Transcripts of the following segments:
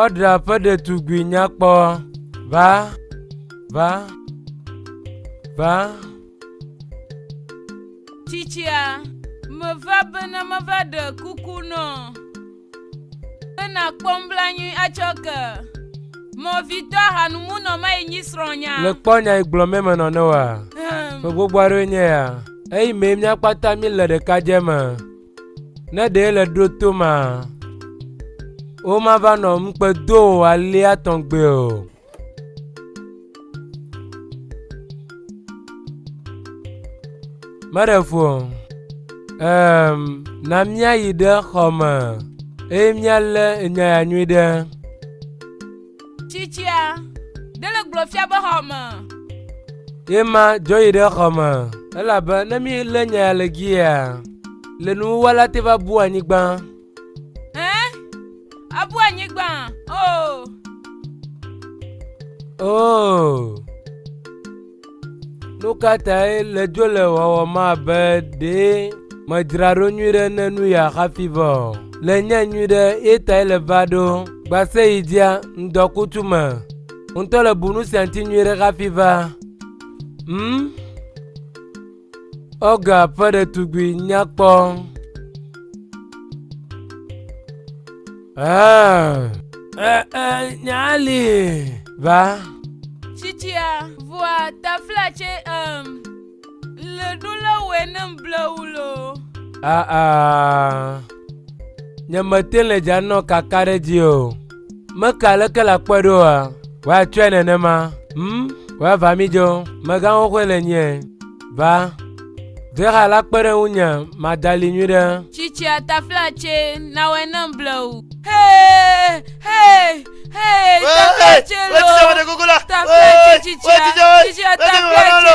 Ɔdra ƒe ɖetugbui nyakpɔ va va va. Tsitsia, meva bene meva ɖe kuku nɔ Be nàkpɔ nublanui atsɔ ke. Mɔvitɔ ahanumunɔ mae nyi srɔ̃nya. Le kpɔ nya yi gblɔ mɛ menɔ ne wa. Ƒe gbogbo aɖewoe nye ya. Eyi mee mía kpata mí le ɖeka dze me. Ne ɖee le ɖo to ma. Wo ma va nɔ ŋukpe do o alea tɔn gbe o. meɖe fu o um, na míayi ɖe xɔ me eye míalé nya ya nyui ɖe tsitsia dele gblɔ fia be xɔ me ye ma dzo yi ɖe xɔ me elabe ne mílé nya ya le gia le nuwuwala te va bu anyigba Hẽ? Abu anyigba! Oo! Oo! Nu ka tae le dzo le wɔwɔm abe ɖe medzra ɖo nyui ɖe ne nu ya hafi vɔ o? Le nye nyui ɖe ye tae le va ɖo gbase yi dzia ŋdɔkutsu me. Ŋutɔ le bu nu sia ŋuti nyui ɖe hafi va. Hmm? Olga ƒe ɖetugbui nyakpɔ. Ah, eh, eh, nyali va. Tsitsia vua tafla tse um, le ɖo le wòe ne mblewu lo. Ah, ah, nyemete le dza nɔ kaka ɖe dzi o. Meke aleke le akpɔe ɖo oa? Woatsɔe nenema. Hm, woava mi dzo, megãwo xoe le nyie. Va, Vexa la kpe ɖe ŋunye madali nyui ɖe. Tsitsia tafla tse nawɔe ne mble o. Hee, hee, hee, tafla tse lo. Tafla tse tsitsia, tsitsia tafla tse.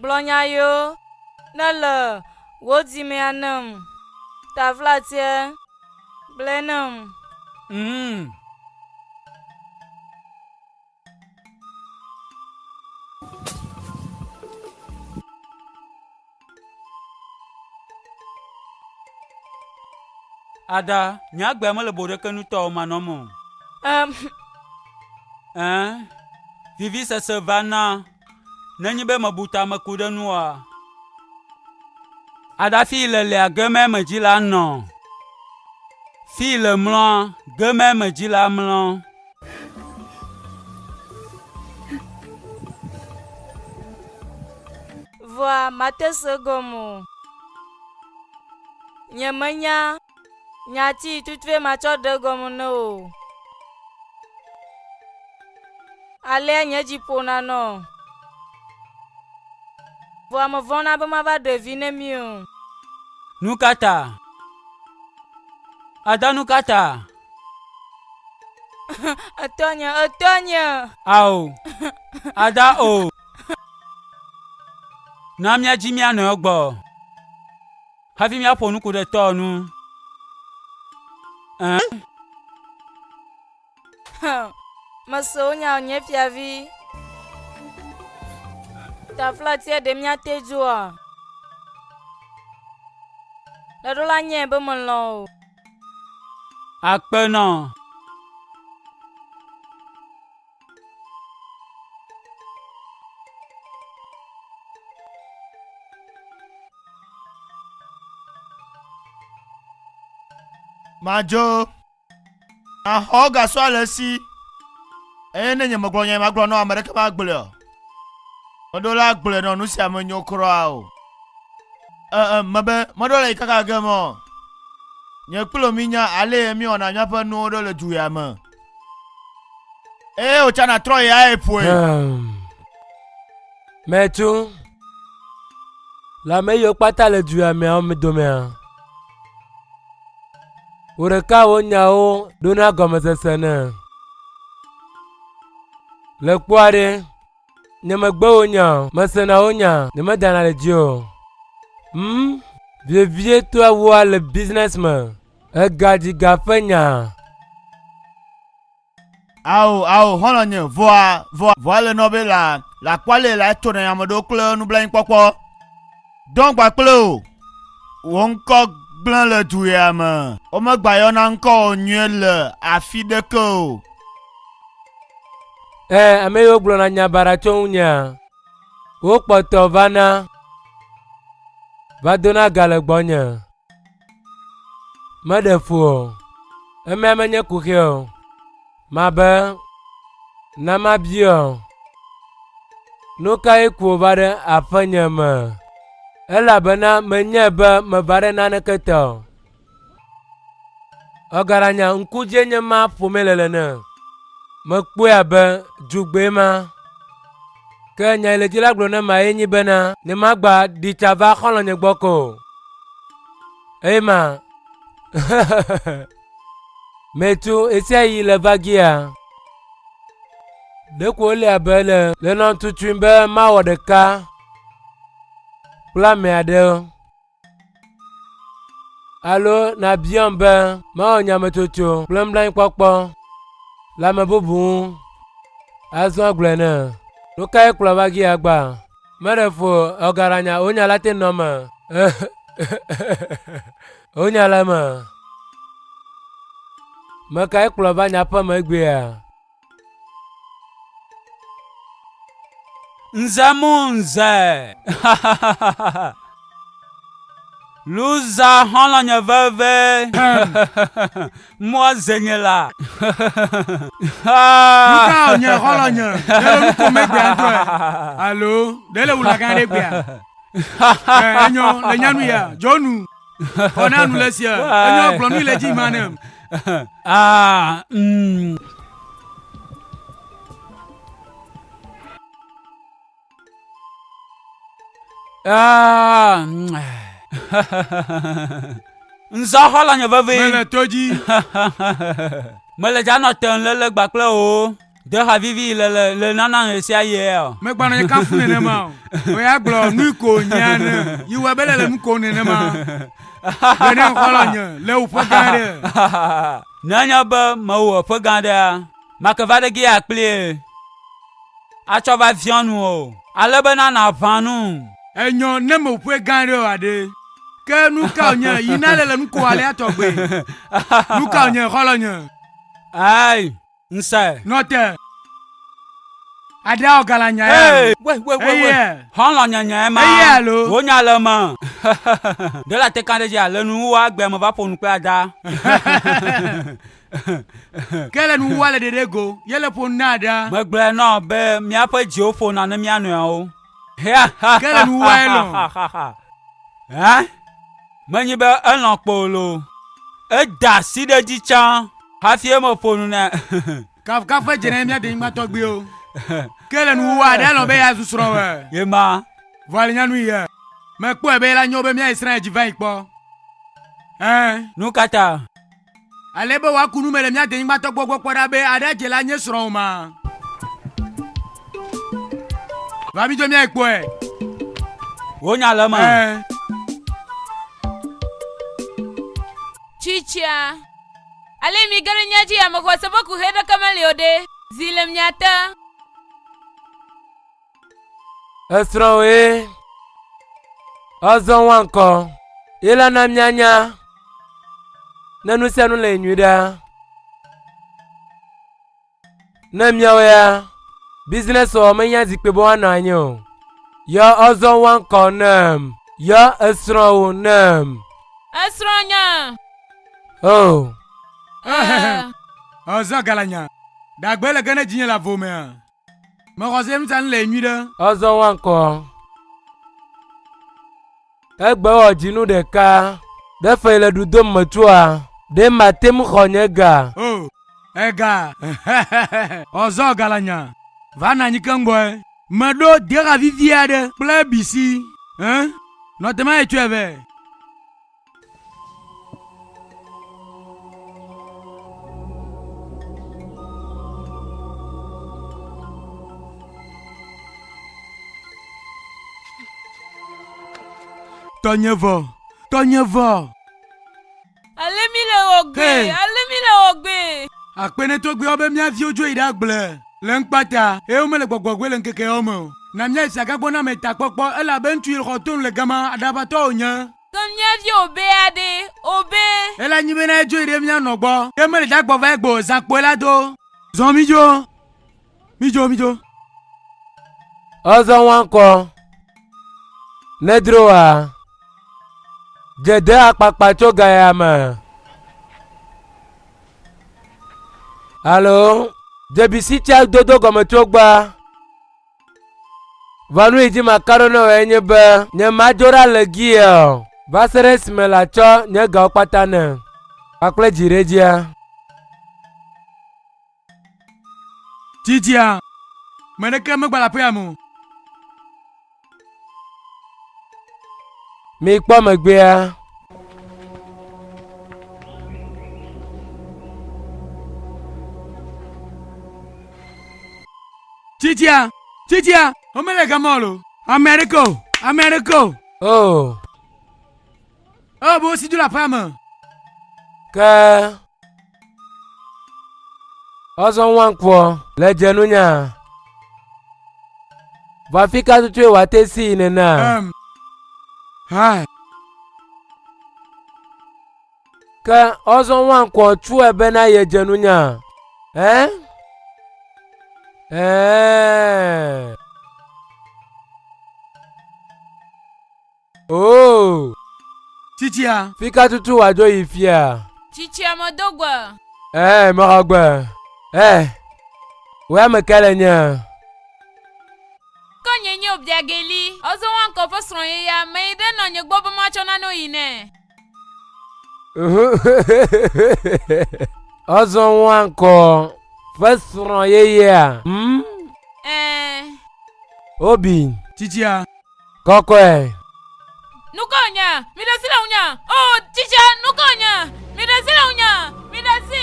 Gblɔ nya yo ne le wò dimea nem. Tavlatiɛ, gblɔɛ nem. Mm. Ada, nye agbea mele boɖekenutɔwo manɔm o. Um. Ɛɛ, vivisese va na. nenye be mebu ta meku ɖe nu oa? Aɖafi le lea gemɛ me dzi la nɔ. Fi le mlɔa gemɛ me dzi la mlɔ. Vɔa mate se gɔme o. Nyemenya Nya ti tutue matsɔ ɖe gɔme ne o. Alea nye dzi ƒona nɔ. Vɔa mevɔ̃na be mava ɖe vi ne mi o. Nu ka ta? Ada nu ka ta? Etɔnye, etɔnye. Ao, ada o. Na míadzi mía nɔewo gbɔ. Hafi míaƒo nuku ɖe tɔa nu. Mese wo nya nye fiavi. Taflatia ɖe míate dzoa. Ɖeɖola nye be melɔ̃ o. Akpenɔ. madzo maxɔ gasɔ ale si eye ne nye megblɔ nya magblɔ nɔ ame ɖeke magblɔe o meɖo la gblɔe nɔ nu sia menyo kura o ee mebe meɖo le yi kaka ge mɔ nye kplo mi nya ale mi wɔna míaƒe nuwo ɖo le du ya me eye wòtsɔ natrɔ ya eƒoe. Mɛtu le ame yiwo kpata le du ya meawo me domea. Wò ɖeka wò nyawo ɖona gɔmesese ne. Le kpɔa ɖe, nye megbe wò nya o, mesena wò nya, nye medana ɖe dzi o. Hmm, vievie toa wua le business me. Egadziga ƒe nya. Ao, ao, xɔlɔ̃nye, vɔa, vɔa, vɔa le nɔ be la, la kpɔale la eto nɛ ame ɖewo kple nublanuikpɔkpɔ. Dɔn gba kple o. Wò ŋkɔ gblẽ le du ya me. Womegba yɔna ŋkɔ o nyuie le afi ɖeke o. Ẽ, ame yiwo gblɔna nya baɖa tso ŋunyea, wokpɔtɔ vana, va dona ga le gbɔnye. Meɖe ƒo o, emea menye kuxi o, mabe na mabie o. Nu kae ku wòva ɖe aƒenye me? Elabena menyae be meva ɖe naneke te o. Egalanya ŋku dzie nye ma ƒomee le nene. Mekpɔe abe dzugbee ma. Ke nya yi le dzi la gblɔ na emae nye bena ne magba ɖi tsa va xɔlɔ̃nye gbɔ ko o. Eye ma metu esia yi le vagia. Ɖeko wole abe le le nɔtutui be mawɔ ɖeka kple ame aɖe. Alo nàbiam be mawɔ nyametsotso kple nublanuikpɔkpɔ le ame bubu ŋu azɔ agblɔe nɛ. Nu kae kplɔ va gi agba? Meɖe fo ɔgaranya wonya la te nɔ me. Wonya la me. Mekae kplɔ va nyaƒe me egbea? Nze mo nze. Luza xɔlɔ nye veve. Mɔ zenye la. Luka nye xɔlɔ nye. Ɖele nu ko megbe antɔ ɛ. Alo, ɖele wula gan ɖe gbea. Ɛ enyɔ le nyanu ya. Jɔnu. Xɔ na nu le sia. Enye gblɔ nu le dzi ma ne. Ah, mm. Ah, mm. Nzɔ xɔ la nye veve. Mele to dzi. Mele dza nɔ te le le gbakple o. Ɖe ha vivi le le le nana ɣe sia ɣia? Megbanɔ nye kafu nenema o. Wɔ ya gblɔ nu ko nyea ne yi wɔ bele le nu ko nenema. Gbe ne xɔlɔ nye le wò ƒe gã ɖe. Ne anya be mewɔ wò ƒe gã ɖea, make va ɖe gea kplie. Atsɔ va viɔ nu o. Ale be nana ʋã nu. Enyɔ ne me wò ƒe gã ɖe o aɖe. Ke nu ka nye yi na le le nu ko alea tɔgbe? Nu ka nye xɔlɔ nye? Ai. nsae. Nɔte. Adao gala nya ya. Hey, we we we we. Hɔnlɔ nya nya ma. Eye alo. Wo nya le ma. Dela te kan ɖe dzi ale nu wo agbe me va ƒo nu kple ada. Ke le nu wo le ɖeɖe go, ye le ƒo na ada. Megblɔe nɔ be míaƒe dziwo ƒona ne mía nɔewo. Ke le nu wo lɔ. Hã? Menyi be elɔ̃ kpoo loo, eda asi ɖe edzi tsã hafi meƒo nu nɛ. Kafukafu ƒe dze ɖe mía denyigba tɔgbuiwo. Ke le nuwuwu aɖe elɔ̃ be yeazu srɔ̃wòe. Ye ma. Vɔ alenya nui ye. Mekpɔe be yela nyo be míayi Israel dzi va yi kpɔ. Ẽ. Nu ka ta? Ale be wòaku nu me le mía denyigbatɔ gbɔ gbɔ kpɔ ɖa be aɖe adze le anye srɔ̃wò ma. Va mi dzo míae kpɔe. Wonya le eme. Ɛɛ. Tsitsia. Ale mi ge ɖe mía dzi ame xɔase ƒe kuxi ɖeke meli o ɖe, zi le mia te. Esrɔ̃wòe. Azɔ wa ŋkɔ. Ye la na míanya ne nu sia nu le nyui ɖa. Ne míawo ya, business wɔ menye zikpui bɔ anɔ anyi o. Yɔ azɔ wa ŋkɔ nam. Yɔ esrɔ̃wò nam. Esrɔ̃ nya. Oh. Azɔ galanya. Dagbe le ge ne dzinye le avomea. Mexɔ se nuta le nyuiɖe. Ɔzɔ wa ŋkɔ. Egbe wɔ dzinu ɖeka. Ɖe fɛ le ɖu dom me tsoa. Ɖe mate ŋu xɔ nye ga. O, ega. Ɔzɔ galanya. Va na nyi keŋgbɔe. Meɖo dexa vivi aɖe kple bisi. Ẽ, nɔtemaye tsɔe vɛ. Tɔnyevɔ, tɔnyevɔ. Ale mi le wɔ gbe, hey. ale mi le wɔ gbe. Akpenetɔ gbe be mía viwo dzo yi ɖe agble le ŋkpata, eye womele gbɔgbɔgbɔe le ŋkeke yawo me o. Na míayi Siagagbɔ na ame takpɔkpɔ, elabe ŋutsu yi le xɔ tonu le gama, aɖaʋatɔ wònye. Ke mía vi obea ɖe, obe. Ele nyi bena edzoe ɖe mía nɔ gbɔ. Ke mele da gbɔ va egbe o, zã kpoe la do. Zɔ midzo, midzo, midzo. Ɔzɔ wankɔ, nedro wa. Dze de akpakpa tso gaya me. Alo, dze bisi tsa dodo gɔme tso gba. Vanu yi dzi maka ɖo na wòe nye be nyemadzo ɖa le gie o, va se ɖe esime latsɔ nye gawo kpata ne kpakple dziɖedzea. Dzidzia, me ɖeke megbale aƒea me o. Mikpɔ megbea. Tsitsia, tsitsia, womele gama o lo. Ame aɖeke o, ame aɖeke o. O. Ewɔ abe wosi do le aƒea me. Ke ɔzɔ ŋwankpɔ le dze nunya. Vɔ afi ka tutue wòate si yi nenea? Um. Ha. Ke ɔzɔ ŋua ŋkɔ tsɔe bena yedze nunya. Ɛ? Ɛ. Oh. Tsitsia. Fika tutu wàdzo yi fia. Tsitsia medo gbe. Ɛ, mexɔ gbe. Ɛ. Wòe ame ka le nye? Ke nye nye Obiageli, ɔzɔ ŋua ŋkɔ ƒe srɔ̃ ye ya, meyi ɖe nɔnye gbɔ be matsɔ nane yi nɛ. Azɔ woa ŋkɔ ƒe srɔ̃ yeyea. Obi. Tsitsia. Kɔkɔe. Nukɔ nya, mi ɖe si le ŋunya. O tsitsia, nukɔ nya, mi ɖe si le ŋunya, mi ɖe si.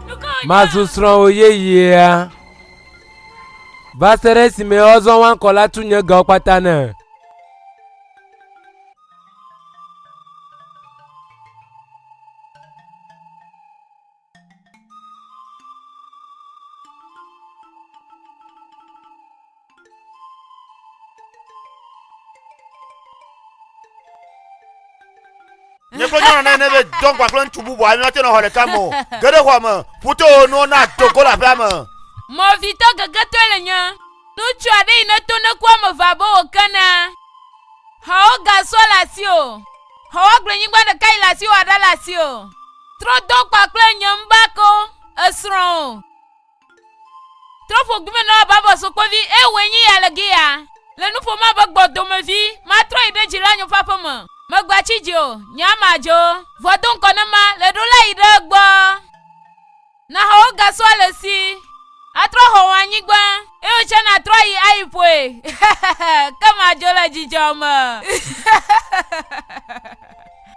Nukɔ nya. Mazu srɔ̃wò yeyea. Va se ɖe esime azɔ woa ŋkɔ la tu nye gawo kpata ne. Nyekpɔ nyɔnu ne ne be dɔn kpa kple ŋutsu bubu anyɔ te nɔ xɔ ɖeka me o. Ge ɖe xɔa me, ƒuto wo nuwo na dogo le aƒea me. Mɔvitɔ gegetɔe le nye. Ŋutsu aɖe yi ne to ne ku ame eve abe wòkena. Xɔwo gasɔ le asiwò. Xɔwɔgblẽnyigba ɖeka yi le asiwò aɖe le asiwò. Trɔ do kpakple nye ŋbako, esrɔ̃ o. Trɔ ƒo gumenɔ abe abɔsokpovi, eye wòe nyi ya le gi ya. Le nu ƒom abe gbɔdomevi, matrɔ yi ɖe dzila nyo ƒe aƒe me. Megatsi dzi o, nye ame adzɔwo. Vɔ do ŋkɔ ne ma, le ɖo la yi ɖe egbɔ. Naxɔ wogasɔ le si. Atrɔ xɔ wò anyigba. Eye wòtsɛ natrɔ yi ayi ƒoe. Ke madzo le dzidzɔ me.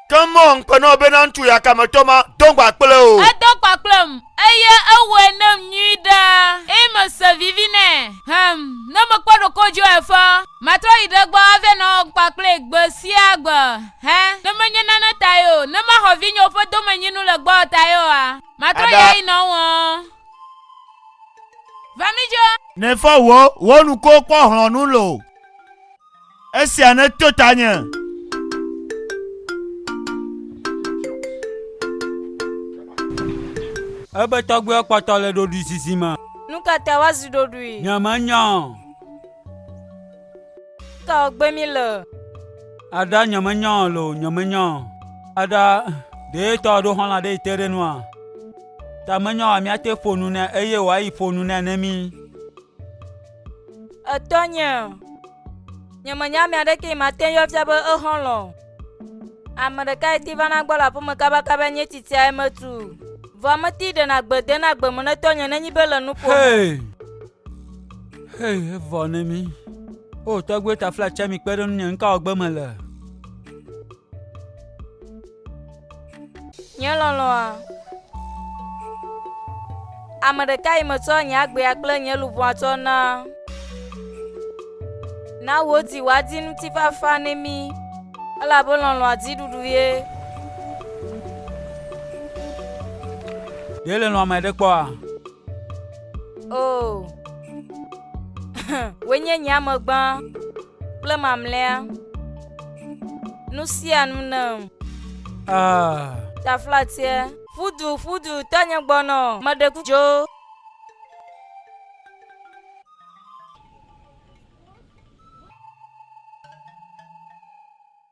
Ke mɔ ŋkpe nɔ bena ŋutsu yakametɔ ma do gba kple wò. Edo gba kplem, eye ewɔe nam nyui ɖe, eye mese vivi nɛ. Hɛm, ne mekpɔ ɖokoe dzi o eƒe, matrɔ yi ɖe egbɔ ava nɔ gba kplee gbe sia gbe. Hɛ, ne menye nane tae o, ne maxɔ vinyewo ƒe domenyinu le gbɔwò tae oa? Matrɔ ya yi nɔ wɔ. Vamijo. Nefɔ wo wo nuko kpɔ hlɔnu lo. Esia ne to tanye. Ebe tɔgbe kpɔtɔ le ɖoɖui sisi me. Nukata wazi ɖoɖui. Nyemenya. Tɔgbe mi le. Ada nyemenya o lo nyemenya o. Ada ɖe tɔ ɖo xɔla ɖe te ɖe nua. Ta menya wa miate ƒo nu ne eye wa yi ƒo nu ne ne mi. Etɔ nye. Nyemenya mi aɖeke yi mate yɔ fia be exɔlɔ. Ame ɖeka yi ti va na gbɔ le aƒeme kabakaba nye titia emetu. Vɔ ameti ɖe na gbede na gbemu ne tɔ nye ne nyi be le nuƒo. Hey. Hee evɔ na mí. O tɔgbuiwo taflatse mi kpe ɖe ŋunye nu ka wɔgbe mele. Nye lɔlɔ̃a. Ame ɖeka yi metsɔ nye agbea kple nye luʋɔa tsɔ na. Na wò di wòadi ŋutifafa ne mí, elabe lɔlɔ̃a di ɖuɖu ye. Ɖe le lɔ̃ ame ɖe kpɔa? O, wòe nye nye ame gbã kple mamlɛa. Nu sia nu nam. Ah. Taflatie. Ƒudu ƒudu tanye gbɔnɔ. Meɖe kudzo.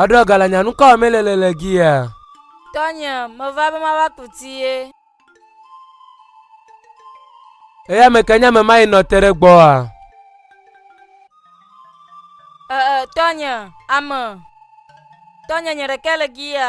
Eɖɔ gala nya nukɔ me le le le gia. Tɔnye, meva be mava ku ti ye. Eya me kenya me mayi nɔ te ɖe gbɔa. Ee, tɔnye, ame. Tɔnye nye ɖeke le gia.